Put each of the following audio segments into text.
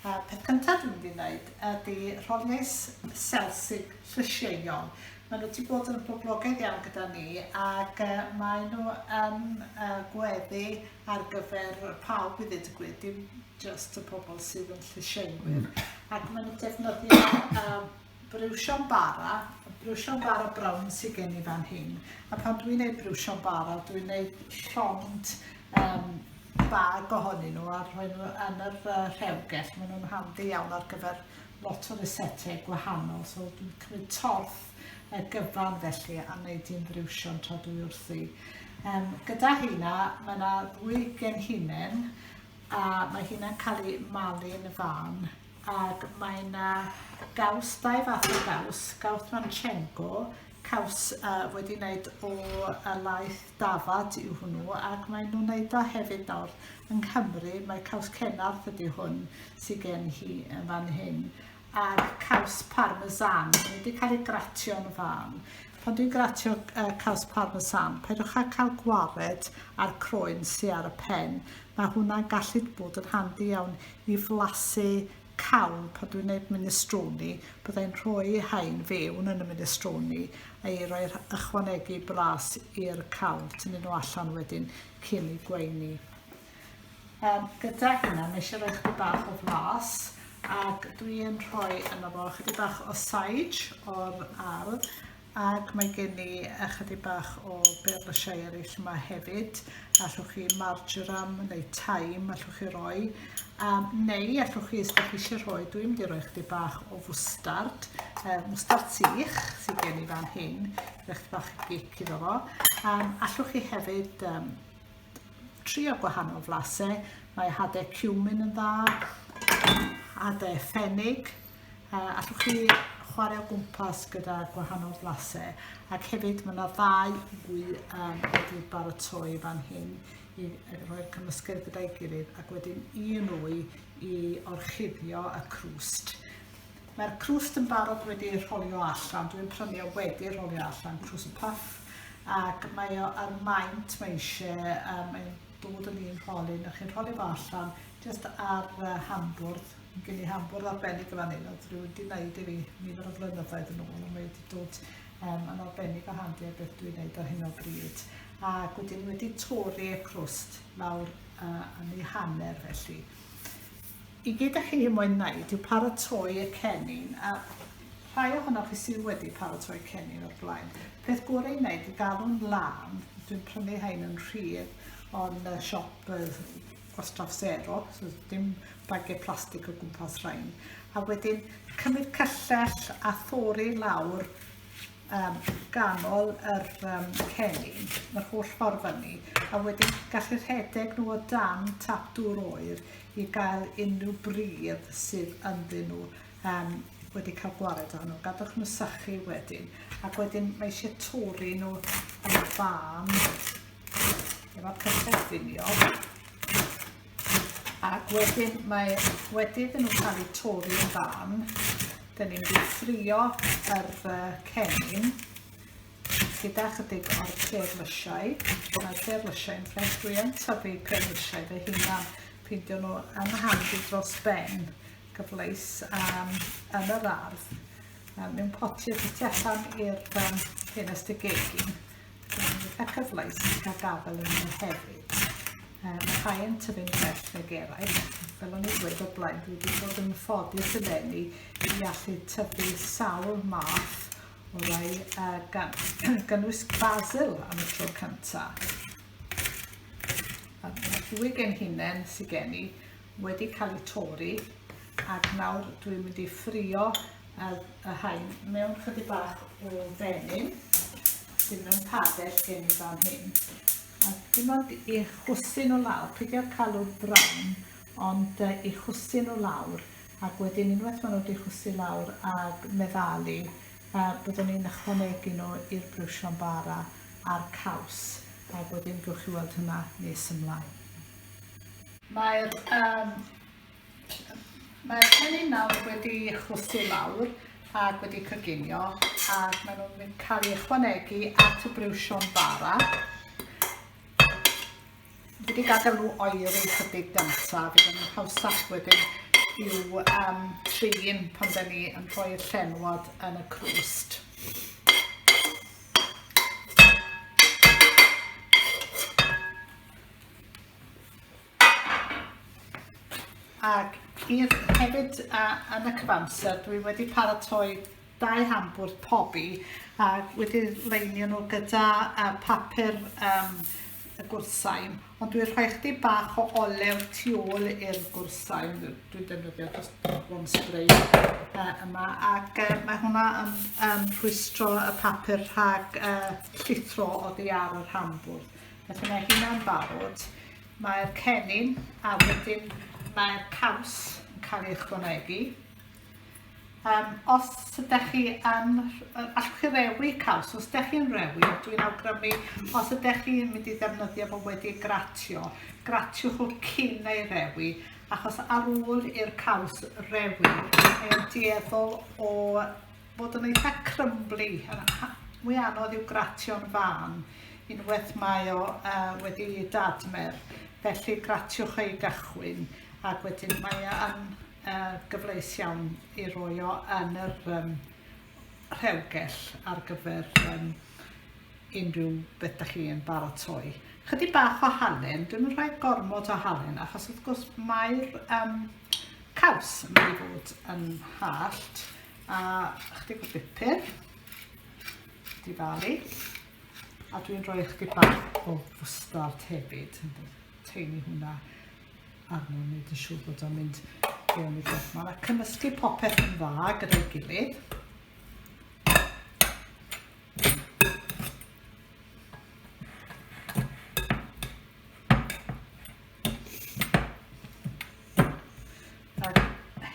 Y peth cyntaf dwi'n mynd i wneud ydy rholiais selsig llysieuol. Maen nhw wedi bod yn boblogaidd iawn gyda ni ac uh, maen nhw yn uh, gweddu ar gyfer pawb i ddweud y gwir, dim just y pobl sydd yn llysieuwyr. Mm. Ac maen nhw'n defnyddio uh, briwsion bara, briwsion bara brown sydd gen i fan hyn. A pan dwi'n gwneud briwsion bara, dwi'n gwneud llond um, bag ohonyn nhw a rhoi nhw yn yr uh, rhewgell. Maen nhw'n handi iawn ar gyfer lot o resetau gwahanol. So dwi'n cymryd torth y gyfan felly a wneud i'n briwsion tra dwi wrthi. Um, gyda hynna, mae yna ddwy genhinen a mae hynna'n cael ei malu yn y fan ac mae yna gaws, dau fath o gaws, gaws Manchenko, caws uh, wedi wneud o uh, laeth dafad yw hwnnw, ac maen nhw'n wneud o hefyd nawr yng Nghymru, mae caws Cenarth ydy hwn sydd gen hi yn fan hyn, a'r caws parmesan, mae wedi cael ei gratio yn fan. Pan dwi'n gratio uh, caws parmesan, peidiwch â cael gwared a'r croen sy'n ar y pen, mae hwnna'n gallu bod yn handi iawn i flasu cawl pan dwi'n gwneud minestrone, bydda i'n rhoi haen fewn yn y minestrone a'i roi ychwanegu bras i'r cawl, tynnu nhw allan wedyn cyn i gweini. Um, gyda hynna, mae eisiau rhoi chydig bach o flas ac dwi'n rhoi yna fo chydig bach o sage o'r ardd Ac mae gen i ychydig bach o berlysiau eraill yma hefyd. Allwch chi marjoram neu taim allwch chi roi. A, neu allwch chi, os ydych chi eisiau rhoi, dwi'n mynd i roi ychydig bach o fwstard, uh, mwstard sych sydd gen i fan hyn, ychydig bach o gic iddo fo. Um, allwch chi hefyd um, trio gwahanol flasau. Mae hadau cumin yn dda, hadau ffenig, Uh, allwch chi chwarae o gwmpas gyda gwahanol flasau ac hefyd mae yna ddau gwy um, wedi baratoi fan hyn i roi'r cymysgedd gyda'i gilydd ac wedyn un wy i orchuddio y crwst. Mae'r crwst yn barod wedi rholio allan, dwi'n prynu o wedi rholio allan crwst puff ac mae o ar maint mae eisiau, um, mae'n dod yn un rholyn a chi'n rholio fo allan jyst ar uh, hambwrdd Gen i ham bwrdd arbennig yn fan hyn, oedd rhywun wedi gwneud i fi nifer o flynyddoedd yn ôl, ond mae wedi dod um, yn arbennig o handi ar beth dwi'n gwneud ar hyn o bryd. Ac wedyn ni wedi torri y crwst lawr uh, yn ei hanner felly. I gyd â chi hyn mwyn wneud yw paratoi y cennin, a rhai ohonoch chi sydd wedi paratoi cennin o'r blaen. Peth gorau i wneud i gadw'n lan, dwi'n prynu hain yn rhydd o'n siop gwastraff sero, so dim bagiau plastig o gwmpas rhain. A wedyn cymryd cyllell a thori lawr um, ganol yr um, cennin, yr holl ffordd fyny, a wedyn gallu rhedeg nhw o dan tap dŵr oer i gael unrhyw bridd sydd ynddyn nhw um, wedi cael gwared o nhw. Gadwch nhw sychu wedyn, ac wedyn mae eisiau tori nhw yn fan efo'r cyffredinio ac wedyn mae wedi iddyn nhw cael eu torri yn fan dyn ni'n mynd ffrio yr uh, cennin gyda chydig o'r perlysiau mae'r perlysiau yn ffres dwi yn tyfu perlysiau fy hunan peidio nhw yn handi dros ben gyfleis um, yn yr ardd um, mewn potiau tu allan i'r um, ffenest y gegin Eitha cyfleus i cael gafel yn nhw hefyd. Um, mae rhai yn tyfu'n bell nag eraill. Fel o'n i'n dweud o blaen, dwi wedi bod yn ffodus y lenni i allu tyfu sawl math o rai uh, gan, gynnwys basil am y tro cyntaf. A dwy gen hunain sy'n gen i, wedi cael eu torri ac nawr dwi'n mynd i ffrio y hain mewn chydig bach o fenyn sydd mewn padell gen i fan hyn. A dim ond i chwsyn o lawr, peidiwch calw'r brown, ond uh, i chwsyn o lawr, ac wedyn unwaith maen nhw wedi chwsu lawr a meddalu, uh, byddwn ni'n ychwanegu nhw i'r brwsio'n bara a'r caws, ac wedyn gwch chi weld hynna nes ymlaen. Mae'r yym mae'r cennin nawr wedi chwysu lawr ac wedi coginio ac maen nhw'n cael ei ychwanegu at y briwsion bara. Fi wedi gadael nhw oeri chydig danta, fe ddim yn hawsach wedyn i'w um, trin pan da ni yn rhoi'r llenwad yn y crwst. Ac i'r hefyd a, yn y cyfamser, dwi wedi paratoi dau hambwrdd pobi a wedi leinio nhw gyda uh, papur um, y gwrsain, ond dwi'n rhoi chdi bach o olew tu ôl i'r gwrsain, dwi'n defnyddio dros one spray uh, yma, ac uh, mae hwnna yn um, rhwystro y papur rhag uh, llithro oddi ar yr hambwrdd. Felly mae hynna'n barod. Mae'r cennin a wedyn mae'r caws yn cael ei ychwanegu. Um, os ydych chi yn, allwch chi rewi caws, os ydych chi'n rewi, dwi'n awgrymu, os ydych chi'n mynd i ddefnyddio fo wedi gratio, gratiwch o cyn ei rewi, achos ar ôl i'r caws rewi, mae'n dueddol o Bod yn eitha crymbly, a a mwy anodd i'w gratio'n fân, unwaith mae o uh, wedi dadmer, felly gratiwch ei gychwyn ac wedyn mae e yn uh, gyfleus iawn i roi o yn yr um, rhewgell ar gyfer um, unrhyw beth da chi'n baratoi. Chydig bach o halen, dwi'n yn rhoi gormod o halen achos wrth gwrs mae'r um, caws yn mynd i fod yn hallt A ychydig o bupur. Difalu. A dwi'n rhoi ychydig bach o fwstard hefyd. Teini hwnna arno, wneud yn siŵr bod o'n mynd fewn i beth yma. A cymysgu popeth yn dda gyda'i gilydd. Ac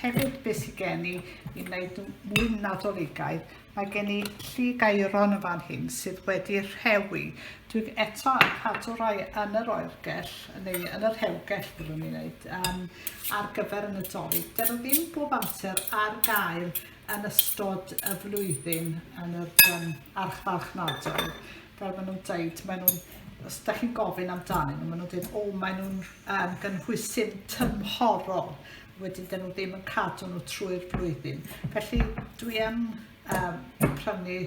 hefyd beth sydd gen i i wneud mwy nadoligaidd, mae gen i llu gairon yn fan hyn sydd wedi rhewi. Dwi'n eto yn cadw rhoi yn yr oergell, neu yn yr hewgell byddwn ni'n gwneud, um, ar gyfer y nadolig. Dyn nhw ddim bob amser ar gael yn ystod y flwyddyn yn yr um, archfarchnadoedd. fel maen nhw'n dweud, maen nhw'n, os da chi'n gofyn amdanyn nhw, maen nhw'n dweud, o, maen nhw'n um, gynhwysyn tymhorol, wedyn dyn nhw ddim yn cadw nhw trwy'r flwyddyn. Felly dwi yn um, prynu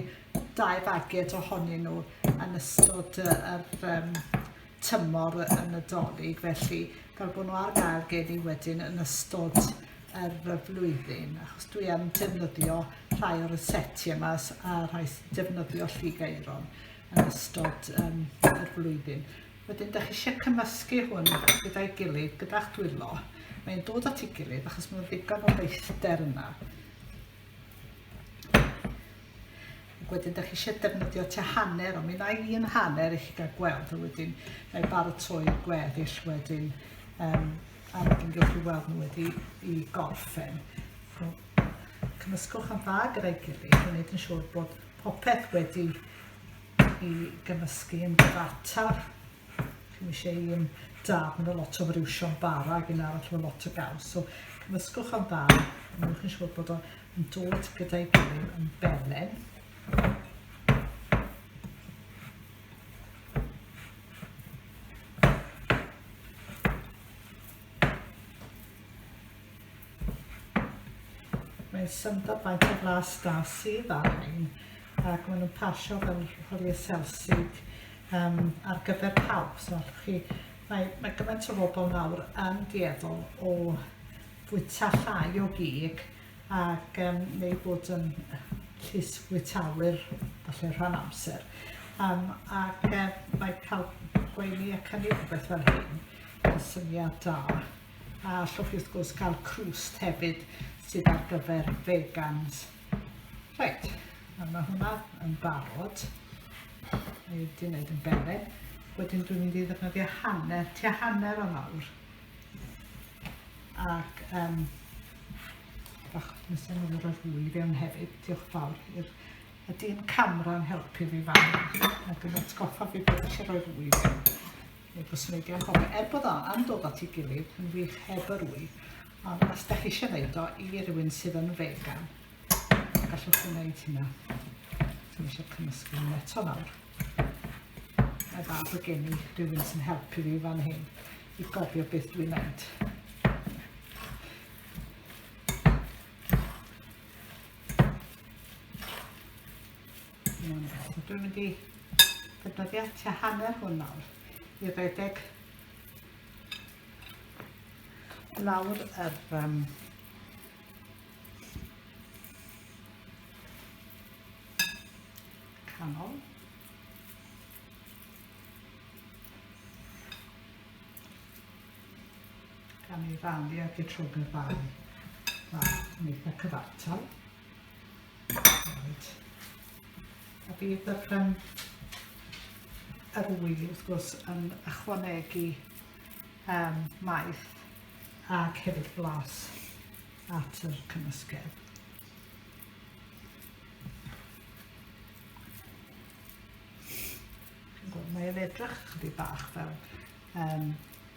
dau fagiad ohonyn nhw yn ystod yr um, tymor y Nadolig felly fel bod nhw ar gael gen i wedyn yn ystod yr flwyddyn achos dwi am defnyddio rhai o'r setiau yma a rhai sy'n defnyddio lligeiron yn ystod um, yr flwyddyn. Wedyn, da chi eisiau cymysgu hwn gyda'i gilydd, gyda'ch dwylo. Mae'n dod at ei gilydd achos mae'n ddigon o leithder yna. Ac wedyn da chi eisiau defnyddio tua hanner, ond mi wna i un hanner i chi gael gweld, a wedyn na i baratoi'r gweddill wedyn, um, a wedyn gywch chi weld nhw wedi i gorffen. So, cymysgwch am dda gyda'i gilydd, a wneud yn siŵr bod popeth wedi i gymysgu yn gyfataf. Chi eisiau i yn dad, mae lot o friwsion bara ag un arall efo lot o gaws. So cymysgwch o'n dda, mae'n chi'n siŵr bod o'n dod gyda'i gilydd yn belen. Mae'n syndod faint o flas da sydd ar rhain ac maen nhw'n pasio fel hwyliau selsig um, ar gyfer pawb. So, chi, mae, mae gymaint o bobl nawr yn dueddol o fwyta llai o gig ac um, neu bod yn llys fwytawyr falle rhan amser. Um, ac um, mae cael gweini ac hynny rhywbeth fel hyn yn syniad da. A allwch chi wrth gwrs gael crwst hefyd sydd ar gyfer vegans. Reit, a mae hwnna yn barod. Mae wedi gwneud yn bere. Wedyn dwi'n mynd i ddefnyddio hanner, tua hanner o nawr. Ac um, bach nes yn mynd o'r fwy i fewn hefyd. Diolch fawr i'r y dyn camera'n helpu fi fan ac yn atgoffa fi bod eisiau rhoi fwy i fewn. Neu byswn i wedi anghofio, er bod o am dod at ei gilydd yn wych heb yr wy, ond os da chi eisiau wneud o i rywun sydd yn vegan, gallwch chi wneud hynna. Dwi'n eisiau cymysgu yn eto nawr. Mae dda bod gen i rhywun sy'n helpu fi fan hyn i gofio beth dwi'n wneud. Dwi'n mynd i ddefnyddio tua hanner hwn nawr i redeg lawr yr um, canol. Gan ei rannu ag y trwg y fai. Mae'n eitha cyfartal. A bydd y pen arwy wrth gwrs yn ychwanegu um, maeth ac hefyd blas at yr cymysgedd. Mae e'n edrych chydig bach fel um,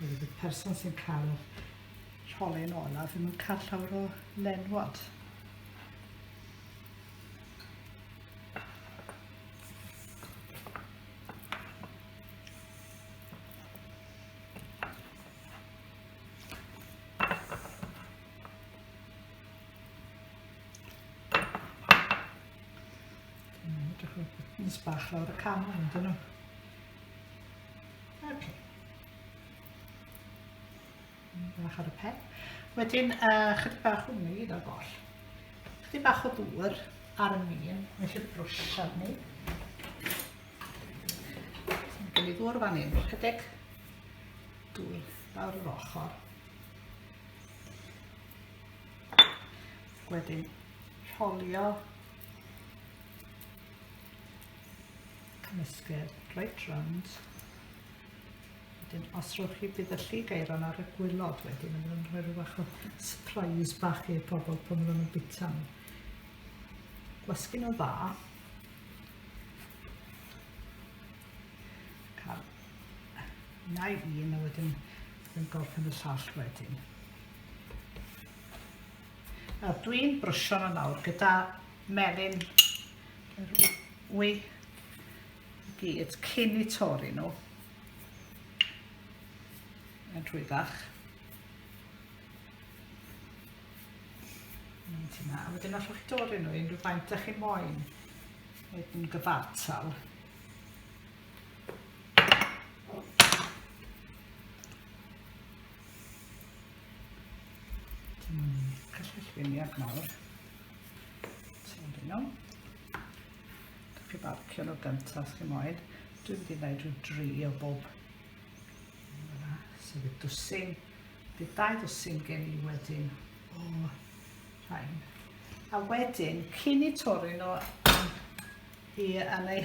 Bydd y person sy'n cael y rholyn olaf ddim yn cael llawer o lenwod. Mm, edrych ar buttons bach lawr y cam yn dyn nhw. Okay. Bach ar y pen. Wedyn, uh, chydig bach o mi gyda'r goll. Chydig bach o ddŵr ar y mîn, mae eisiau brwsh arni. Gwn i ddŵr fan hyn, chydig dŵr lawr yr ochr. Wedyn, rholio Cymysgedd right round. Wedyn, os rhowch chi bydd y lli gairon ar y gwylod wedyn yn mynd rhoi rhyw fach o surprise bach i'r pobl pan maen nhw'n bita nhw. Gwasgu nhw dda. Cael nai un a wedyn yn gorffen y llall wedyn. Nawr dwi'n brwsio nhw nawr gyda melyn yr wy i gyd cyn i torri nhw yn rhwyddach. Mynd yna, a wedyn allwch chi dorri nhw unrhyw faint ydych chi'n moyn wneud yn gyfartal. Cyllwyniad mawr. Ti'n dyn nhw. Dych chi barcio nhw gyntaf os chi moyn. Dwi'n mynd i wneud rhyw dri o bob. Yna, sydd y dwsin. Bydd dau dwsin gen i wedyn o rhain. A wedyn, cyn i torri nhw i yn ei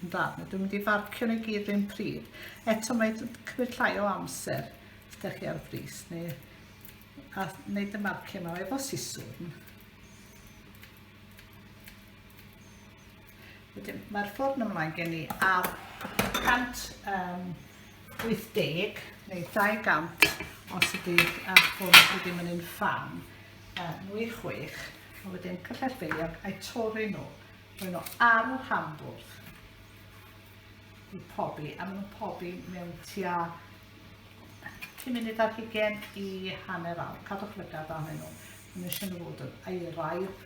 Yn dda, na dwi'n mynd i farcio nhw i gyd rhywun pryd. Eto mae cymryd llai o amser ydych chi ar frys neu a wneud y marcio yma efo siswrn. Wedyn mae'r ffordd ymlaen gen i ar 180 neu 200 os ydy ar ffôn sydd ddim yn un fan, nwy chwech, a wedyn cyllell beiliog a'i torri nhw. Mae nhw ar y rhanbwrdd i pobi, a maen nhw'n pobi mewn tua 10 munud ar hugen i hanner awr. Cadwch lygad arnyn nhw. Maen nhw eisiau nhw fod yn aeraidd.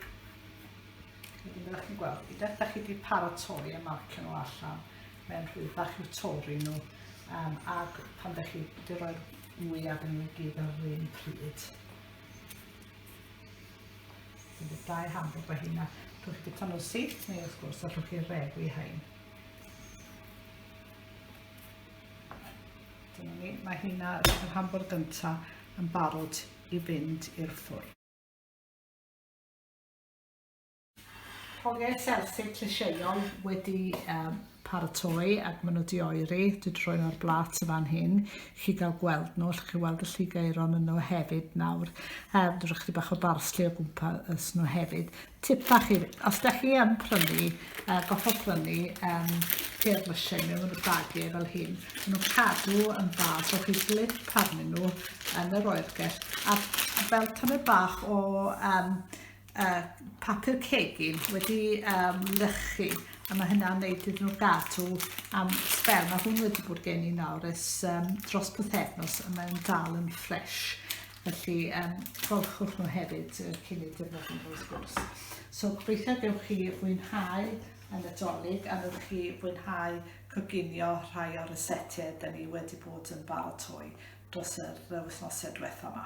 Wedyn byddwch chi'n gweld, i dweud, da chi wedi paratoi a marcio nhw allan. Mae'n rhwydd bach i'w torri nhw. Um, ac pan da chi wedi rhoi'r mwyaf yn nhw i gyd ar yr un pryd. Bydd dau ham bod fy hynna. Rhwch chi tan o'r syth, neu wrth gwrs, a rhwch chi'r reg i hain. Dyna ni, mae hynna, yr ham bod gyntaf, yn barod i fynd i'r ffwrdd. Hogiau selthyg llysieuol wedi um, paratoi ac maen nhw di oeri. Dwi wedi rhoi nhw'r blat y fan hyn. Chi gael gweld nhw, allwch chi weld y lligeiron yn nhw hefyd nawr. Um, dwi'n rhaid chi bach o barsli o gwmpas nhw hefyd. Tip bach i, os da chi yn prynu, uh, goffa prynu um, peir lysiau mewn y bagiau fel hyn, maen nhw'n cadw yn dda, so chi blip arnyn nhw yn yr oergell. A fel tymed bach o um, uh, papur cegin wedi um, lychu a mae hynna'n neud iddyn nhw gadw am sbel. Mae hwn wedi bod gen i nawr ys um, dros bythefnos a mae'n dal yn ffres. Felly, um, golchwch nhw hefyd uh, cyn ei defnyddio nhw wrth gwrs. So, gobeithio gewch chi fwynhau y Nadolig a newch chi fwynhau coginio rhai o'r resetiau da ni wedi bod yn baratoi dros yr wythnosau diwethaf yma.